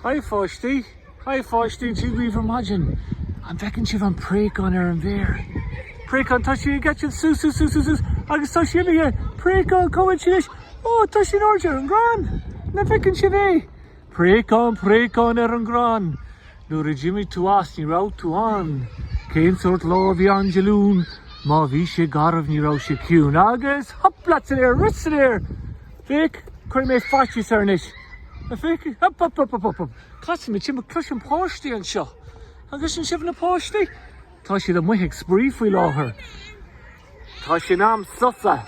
Hi a pháistí! Hi a pháistí, Dia dhaoibh ar maidin! An bhfeiceann sibh an préachán ar an bhféar? Préachán, tá sí ag eitilt sú sú sú sú sú agus tá sí imithe! Préachán, cá bhfuil sí anois? Ó, tá sí in airde ar an gcrann! An bhfeiceann sibh é? Préachán, préachán ar an gcrann! Nuair a d'imigh tú as ní raibh tú ann. Cén sórt lá a bhí ann Dé Luain? Má bhí sé garbh ní raibh sé ciúin. Agus, hup leat san aer, rith san aer! Féach, cuirfidh mé faitíos air anois! An féidir? Hup hup hup hup hup! Casaimid timpeall, cloisim páistí anseo. An gcloiseann sibh na páistí? Tá siad amuigh ag spraoi faoi láthair. Tá sé in am sosa.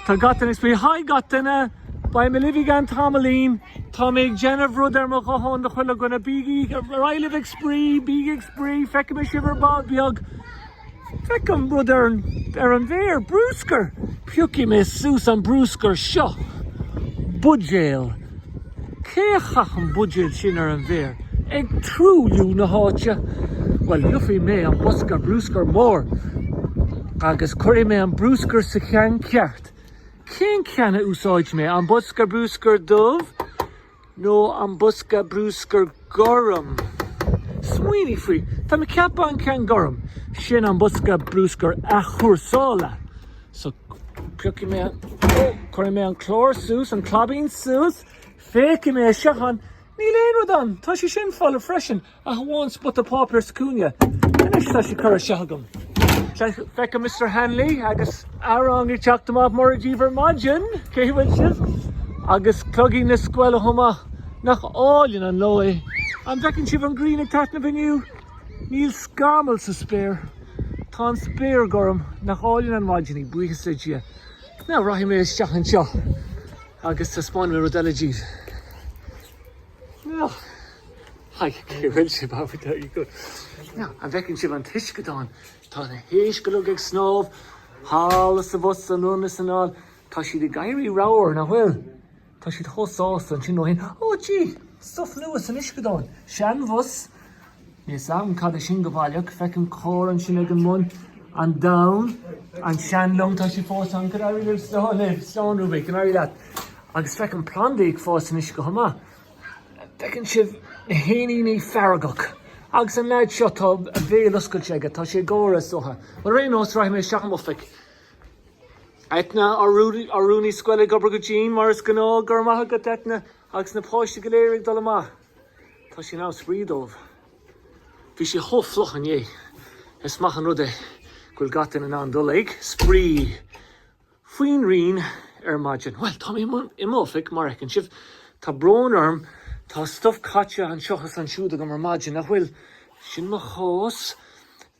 Tá gach duine ag spraoi. Haigh gach duine! Beidh mé libh i gceann tamaillín. Tá mé ag déanamh rud ar mo ghuthán do chuile dhuine. Bígí ar aghaidh libh ag spraoi, bígí ag spraoi, feicfidh mé sibh ar ball beag! Feicim rud ar an, ar an bhféar, brúscar! Piocfaidh mé suas an brúscar seo. Buidéal. Cé a chaith an buidéal sin ar an bhféar? Ag truailliú na háite! Bhuel, gheobhaidh mé an bosca brúscair mór agus cuirfidh mé an brúscar sa cheann ceart. Cén ceann a úsáidfidh mé? An bosca brúscair dubh? nó an bosca brúscair gorm. Smaoinigh faoi, tá mé ag ceapadh an ceann gorm sin an bosca brúscair athchúrsála. So, piocfaidh mé an, ó, cuirfidh mé an clár suas, an claibín suas, féachfaidh mé isteach ann, níl aon rud ann, tá sé sin folamh freisin, Ach amháin spota páipéir sa chúinne. Anois tá sé curtha isteach agam. Feicim Mister Hanley agus a rang ag teacht amach mora díbh ar maidin, cén chaoi a bhfuil sibh? Agus cloigín na scoile chomh maith, nach álainn an lá é! An bhfeiceann sibh an ghrian ag taitneamh inniu? Níl scamall sa spéir. Tá an spéir gorm. Nach álainn an mhaidin í, buíochas le Dia. Now rachaidh mé isteach anseo agus taispeánfaidh mé rud eile díbh. Haigh ciúin sibh ábhar deiridh go. Now, an bhfeiceann sibh an t-uisceadán? Tá na héisc uilig ag snámh thall is abhus anonn is anall. Tá siad ag éirí ramhar, nach bhfuil? Tá siad chomh sásta ansin ó shin. Ó, Dia! Stuif nua san uisceadán. Seanbhus Níl a fhios agam cad é sin go baileach, feicim carr ansin ag an mbun, an domhan, an seanlong, tá sí fós ann, go n-éirí libh slán libh, slán uaibh, go n-éirí leat, agus feicim plandaí ag fás anois chomh maith, an bhfeiceann sibh na héiníní feargach, agus an leaid seo tá a bhéal oscailte aige, tá sé ag gáire is dócha, ar aon nós rachaidh mé isteach in m'oifig. Eithne, Ár rúnaí scoile ag obair go dian mar is gnáth, go raibh maith agat Eithne, agus na páistí go léir ag dul amach. Tá sé an-spraoi dóibh. Bhí sé chomh fliuch inné. Is maith an rud é go bhfuil gach duine in ann dul ag spraoi faoin ngrian ar maidin. Bhuel, tá mé i m'oifig, mar a fheiceann sibh. Tá brón orm, tá stuif caite anseo is ansiúd agam ar maidin, nach bhfuil? Sin mo chás.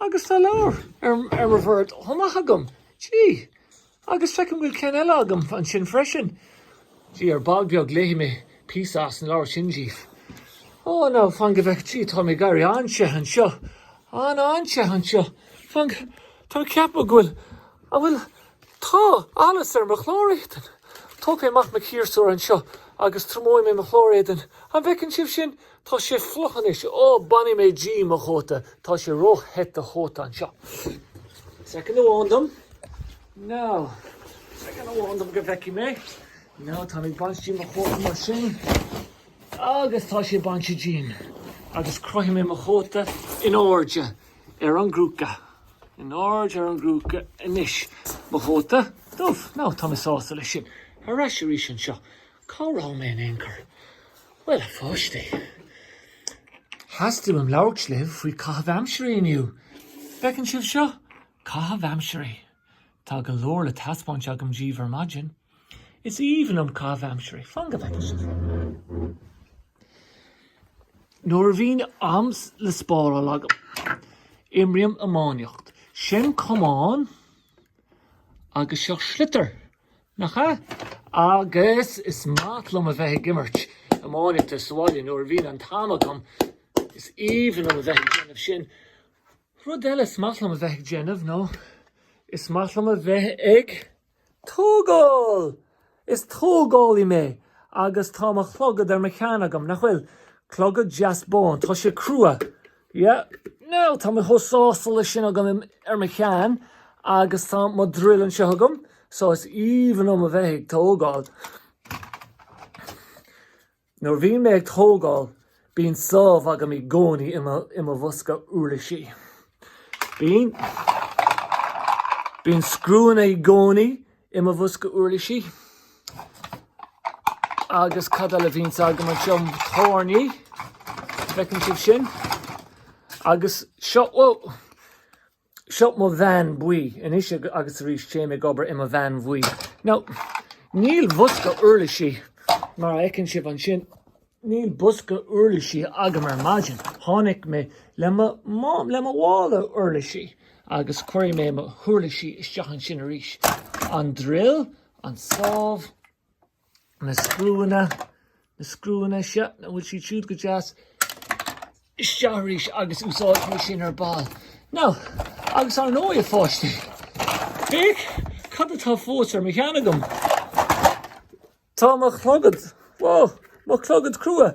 Agus tá leabhar ar mo bhord chomh maith agam. Gee! Agus feicim go bhfuil ceann eile agam ansin freisin. Gee, ar ball beag léifidh mé píosa as an leabhar sin díbh. Ó, now, fan go bhfeicfidh, gee, táim ag éirí an-te anseo. An-an-te anseo. Fan, tá mé ag ceapadh go bhfuil, an bhfuil, tá allas ar mo chlár éadain. Tógfaidh mé amach mo chiarsúr anseo agus triomóidh mé mo chlár éadain. An bhfeiceann sibh sin? Tá sé fliuch anois. Ó, bainfidh mé díom mo chóta. Tá sé ró-the do chóta anseo. Second amháin dom. Now, second amháin dom go bhfeicfidh mé. Now, táim ag baint díom mo chóta mar sin. Agus tá sé bainte díom. Agus crochfaidh mé mo chóta in airde ar an gcrúca. In airde ar an gcrúca anois mo chóta dubh. Now, tá mé sásta leis sin. Ar ais arís anseo. Cá raibh mé in aon chor? Bhuel, a pháistí, theastaigh uaim labhairt libh faoi chaitheamh aimsirí inniu. Feiceann sibh seo? Caitheamh aimsirí. Tá go leor le taispeáint agam díbh ar maidin. Is aoibhinn liom caitheamh aimsirí. Fan go bhfeice sibh. Nuair a bhíonn am le spáráil agam, imrím iománaíocht. Sin camán agus seo sliotar. Nach ea? Agus is maith liom a bheith ag imirt iománaíochta sa bhaile nuair a bhíonn an t-am agam. Is aoibhinn liom a bheith ag déanamh sin. Rud eile is maith liom a bheith ag déanamh ná is maith liom a bheith ag tógáil! Is tógálaí mé agus tá mo chlogad ar mo cheann agam, nach bhfuil? Clogad deas bán. Tá sé crua. Yeah, now, tá mé chomh sásta leis sin agam ar mo cheann agus tá mo drill anseo agam, so is aoibhinn liom a bheith ag tógáil. Nuair a bhíonn mé ag tógáil bíonn sábh agam i gcónaí i mo bhosca uirlisí. Bíonn, bíonn scriúnna i gcónaí i mo bhosca uirlisí agus cad eile a bhíonns agam anseo, tairní, feiceann sibh sin, agus seo, bhuel, seo mo veain buí anois agus arís téim ag obair i mo veain bhuí. Now, i mo bhosca uirlisí mar a fheiceann sibh ansin, Níl bosca uirlisí agam ar maidin. Tháinig mé le mo mhála uirlisí agus cuirfidh mé mo huirlisí isteach ansin arís. An drill, an sábh, na scriúanna, na scriúanna, an bhfuil siad siúd go deas? Isteach arís agus úsáidfidh mé sin ar ball. Now, agus ar ndóigh a pháistí, féach cad atá fós ar mo cheann agam. Tá mo chlogad, ó, mo chlogad crua.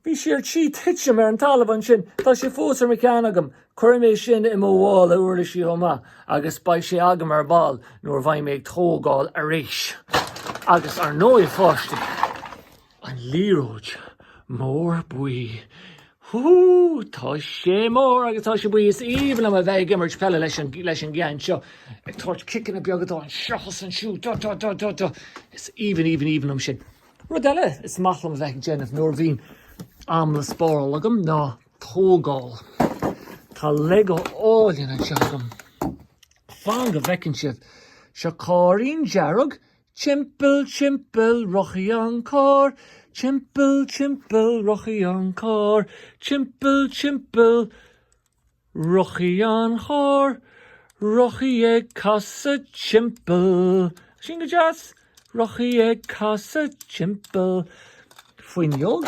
Bhí sé ar tí titim ar an talamh ansin. Tá sé fós ar mo cheann agam. Cuirfidh mé sin i mo mhála uirlisí chomh maith agus beidh sé agam ar ball nuair a bheidh mé ag tógáil arís. Agus, ar ndóigh, a pháistí, an liathróid mór buí. Hú, tá sé mór agus tá sé buí. Is aoibhinn liom a bheith ag imirt peile leis an gceann seo. Ag tabhairt ciceanna beaga dó anseo agus ansiúd do do do do do. Is aoibhinn aoibhinn aoibhinn liom sin. Rud eile is maith liom a bheith ag déanamh nuair a bhíonn am le spáráil agam ná tógáil. Tá Lego álainn anseo agam. Fan go bhfeiceann sibh. Seo cairrín dearg, Timpeall timpeall rachaidh an carr, timpeall timpeall rachaidh an carr, timpeall timpeall rachaidh an charr, rachaidh ag casadh timpeall. Sin go deas, rachaidh ag casadh timpeall. Fuinneog.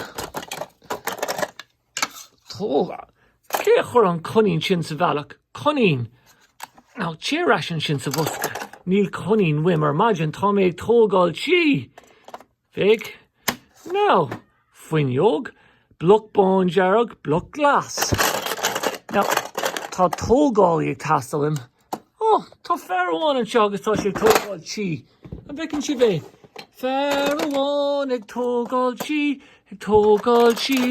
Cé a chuir an coinín sin sa bhealach? Coinín! Now téir ar ais ansin sa bhosca. Níl coinín uaim ar maidin, tá mé ag tógáil tí! Féach! Now! Fuinneog? Bloc bándearg? Bloc glas? Now! Tá tógálaí ag teastáil uaim. Ó, tá fear amháin anseo agus tá sé ag tógáil tí. An bhfeiceann sibh é? Fear amháin ag tógáil tí, ag tógáil tí,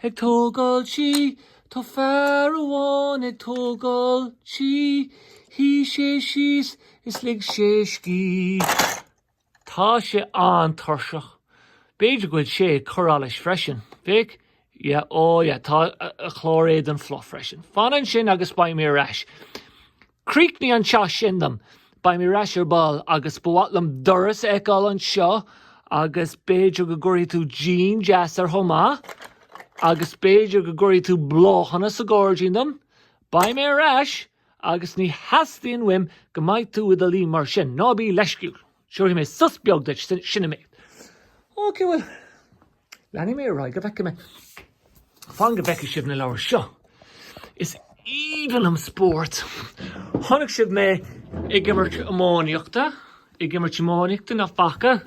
ag tógáil tí. Tá fear amháin ag tógáil tí. Shuigh sé síos is lig sé scíth. Tá sé an-tuirseach. B'fhéidir go bhfuil sé ag cur allais freisin, féach? Yeah, oh yeah, tá a chlár éadain fliuch freisin. Fan ansin agus beidh mé ar ais. Críochnaigh an teach sin dom. Beidh mé ar ais ar ball agus ba mhaith liom doras a fheiceáil anseo agus b'fhéidir go gcuirfidh tú díon deas air chomh maith agus b'fhéidir go gcuirfidh tú bláthanna sa gáirdín dom. Beidh mé ar ais! Agus ní theastaíonn uaim go mbeidh tú i do luí mar sin, ná bí leisciúil. Seolfaidh mé sos beag duit, sin an méid. Ok, bhuel, leanfaidh mé ar aghaidh go bhfeice mé. Fan go bhfeice sibh na leabhair seo. Is aoibhinn liom spórt. Chonaic sibh mé ag imirt iománaíochta, ag imirt iománaíochta nach bhfaca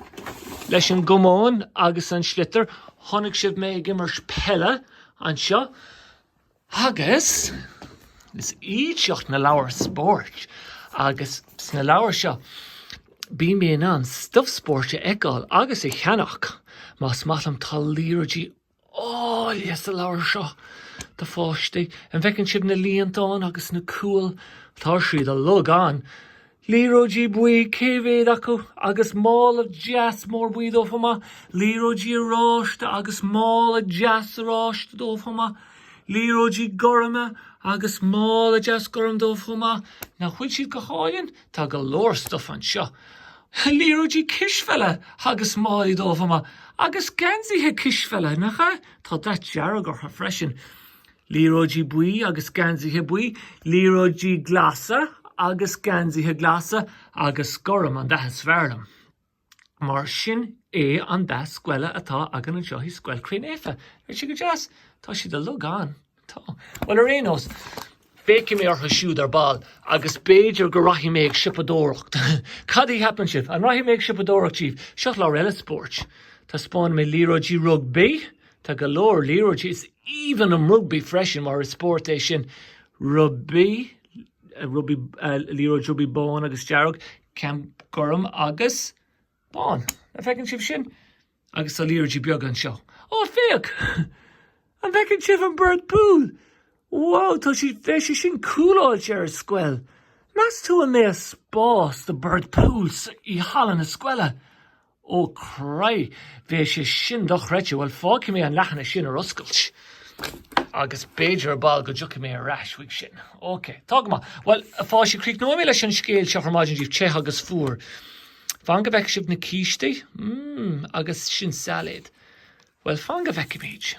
leis an gcamán agus an sliotar. Chonaic sibh mé ag imirt peile anseo. Agus is iad seo na leabhair spóirt agus sna leabhair seo bíonn mé in ann stuif spóirt a fheiceáil agus a cheannach más maith liom. Tá liathróidí áille sa leabhar seo do pháistí. An bhfeiceann sibh na líontáin agus na cúil? Tá siad uilig ann. Liathróidí buí, cé mhéad acu? agus mála deas mór buí dóibh chomh maith. Liathróidí oráiste agus mála deas oráiste dóibh chomh maith. Liathróidí gorma agus mála deas gorm dóibh chomh maith. Nach bhfuil siad go hálainn? Tá go leor stuif anseo. Liathróidí cispheile agus málaí dóibh chomh maith. Agus geansaithe cispheile, nach ea? Tá dath dearg orthu freisin. Liathróidí buí agus geansaithe buí, liathróidí glasa agus geansaithe glasa agus gorm an dath is fearr liom. Mar sin é an dath scoile atá againn anseo i Scoil Chroí Naofa. Nach bhfuil sé go deas? Tá siad uilig ann. Tá. Bhuel ar aon nós, feicfidh mé orthu siúd ar ball agus b'fhéidir go rachaidh mé ag siopadóireacht. Cad a cheapann sibh? An rachaidh mé ag siopadóireacht daoibh? Seo leabhar eile spóirt. Taispeánfaidh mé liathróidí rugbaí, Tá go leor liathróidí is aoibhinn liom rugbaí freisin mar is spórt é sin. Rugbaí, rugbaí, liathróid rugbaí bán agus dearg, ceann gorm agus bán. An bhfeiceann sibh sin? Agus tá liathróidí beaga anseo. Ó, féach! An bhfeiceann sibh an ball pool? Wow, nach mbeadh sé sin cúláilte ar an scoil. Meas tú an mbeadh spás do ball pool i halla na scoile? Ó chroí, bheadh sé sin dochreidte. Bhuel, fágfaidh mé an leathanach sin ar oscailt agus b'fhéidir ar ball go dtiocfaidh mé ar ais chuige sin. Ok, tá go maith. Bhuel, a pháistí, críochnóidh mé leis an scéal seo ar maidin daoibh te agus fuar. Fan go bhfeicfidh sibh na cístí. Mmm, agus sin sailéad. Bhuel, fan go bhfeicfimid.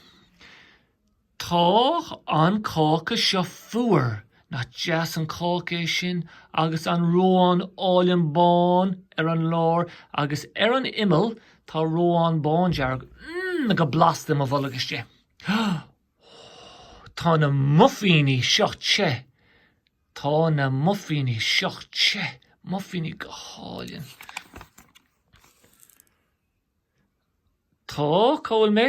Tá an cáca seo fuar! Nach deas an cáca é sin agus an reoán álainn bán ar an lár agus ar an imeall tá reoán bándearg. Mmm go blasta i mo bholg istigh. Ó tá na muifíní seo te! Tá na muifíní seo te! Muifíní go hálainn. Tá, cá bhfuil mé?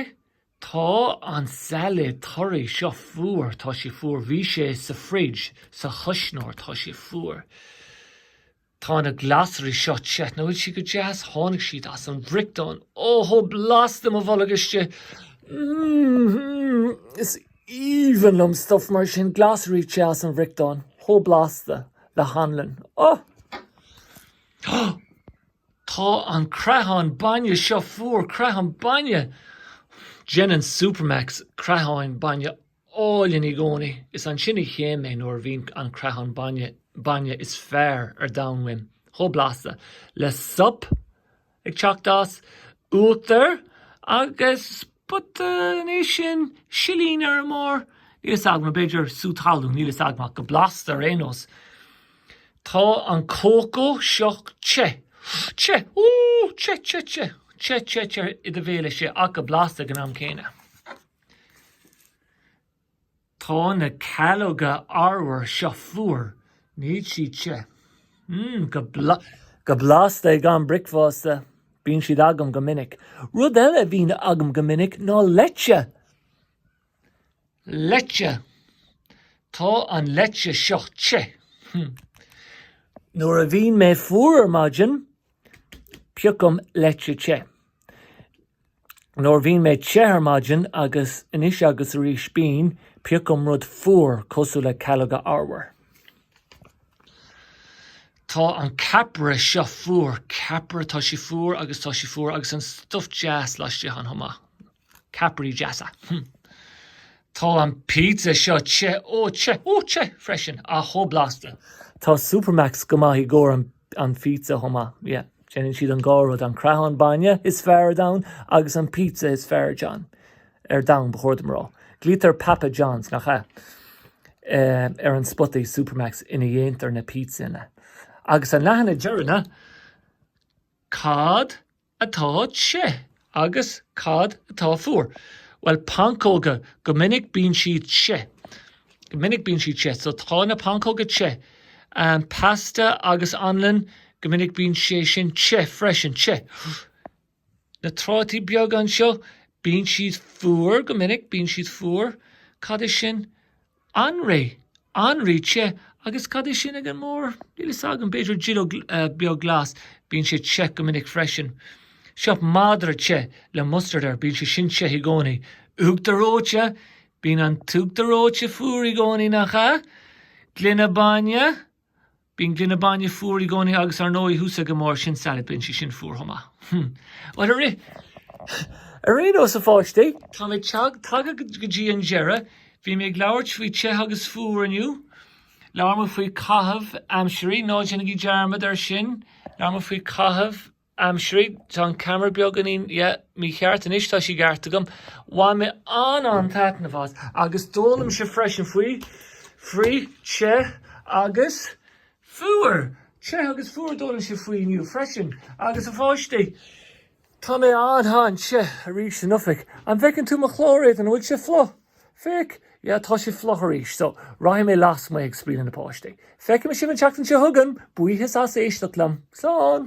Tá an sailéad torraí seo fuar, tá sé fuar, bhí sé sa fridge, sa chuisneoir, tá sé fuar. Tá na glasraí seo te, nach bhfuil siad go deas, tháinig siad as an bhfriochtán, oh, chomh blasta mo bholg istigh, mm-hmm, is aoibhinn liom stuff mar sin, glasraí te as an bhfriochtán, chomh blasta le hanlann, oh! Tá an creathán bainne seo fuar, creathán bainne! Déanann Supermacs creatháin bainne álainn i gcónaí. Is ansin a théann mé nuair a bhíonn an creathán bai- bainne is fearr ar domhan uaim, chomh blasta le sop ag teacht as uachtar agus. But sin é sin, silín ar a bharr, níl fhios agam, b'fhéidir sú talún, níl fhios agam ach go blasta ar aon nós. Tá an cócó seo te, te, ooh, te, te, te, te, te, te i do bhéal atá sé ach go blasta ag an am céanna. Tá na calóga arbhair seo fuar. Níl siad te. Mmm, go blasta ag am bricfeasta. Bíonn siad agam go minic. Rud eile a bhíonn agam go minic ná leite. Leite. Tá an leite seo te. Nuair a bhíonn mé fuar ar maidin, Piocaim leite te. Nuair a bhíonn mé te ar maidin agus anois agus arís bím, piocaim rud fuar cosúil le calóga arbhair. Tá an ceapaire seo fuar, ceapaire, tá sé fuar agus tá sé fuar agus an stuif deas laistigh ann chomh maith. Ceapairí deasa. Hm. Tá an pizza seo te, ó te, ó te, ó te freisin, ach chomh blasta. Tá Supermacs go maith i gcomhair an phizza chomh maith. Yeah. Déanann siad an dhá rud, an creathán bainne is fearr ar domhan agus an pizza is fearr ar domhan. Ar domhan, ba chóir dom a rá. Glaoitear Papa John's, nach ea? Eh, ar an spotaí Supermacs ina dhéantar na pizzeanna. Agus an leathanach deireanach. Cad atá te agus cad atá fuar? Bhuel pancóga go minic bíonn siad te. Go minic bíonn siad te. So tá na pancóga te. An pasta agus anlann go minic bíonn sé sin te freisin te. Na trátaí beaga anseo bíonn siad fuar go minic bíonn siad fuar. Cad é sin? Anraith, anraith te, agus cad é sin ag an mbarr, níl fhios agam, b'fhéidir duilleog bheag glas, bíonn sé te go minic freisin. Seo, madra te le mustard air, bíonn sé sin te i gcónaí. Uachtar reoite, bíonn an t-uachtar reoite fuar i gcónaí, nach ea? Gloine bainne, Bíonn gloine bainne fuar i gcónaí agus ar ndóigh thuas ag an mbarr sin sailéad, bíonn sí sin fuar chomh maith. Bhuel, ar aon nós a pháistí, tá muid tagtha go dtí an deireadh. Bhí mé ag labhairt faoi te agus fuar inniu. Labhair muid faoi caitheamh aimsirí, ná déanaigí dearmad air sin, labhair muid faoi caitheamh aimsirí, tá an ceamara beagáinín, yeah, mícheart, anois tá sé i gceart agam, bhain mé an-an-taitneamh as agus d'fhoghlaim sibh freisin faoi, frith, te agus fuar, te agus fuar a d'fhoghlaim sibh faoi inniu freisin agus a pháistí, tá mé an-an-te arís san oifig, an bhfeiceann tú mo chlár éadain, an bhfuil sé fliuch? Féach, yeah, tá sé fliuch arís, so rachaidh mé lasmuigh ag spraoi leis na páistí. Feicfidh mé sibh an tseachtain seo chugainn! Buíochas as éisteacht liom. Slán!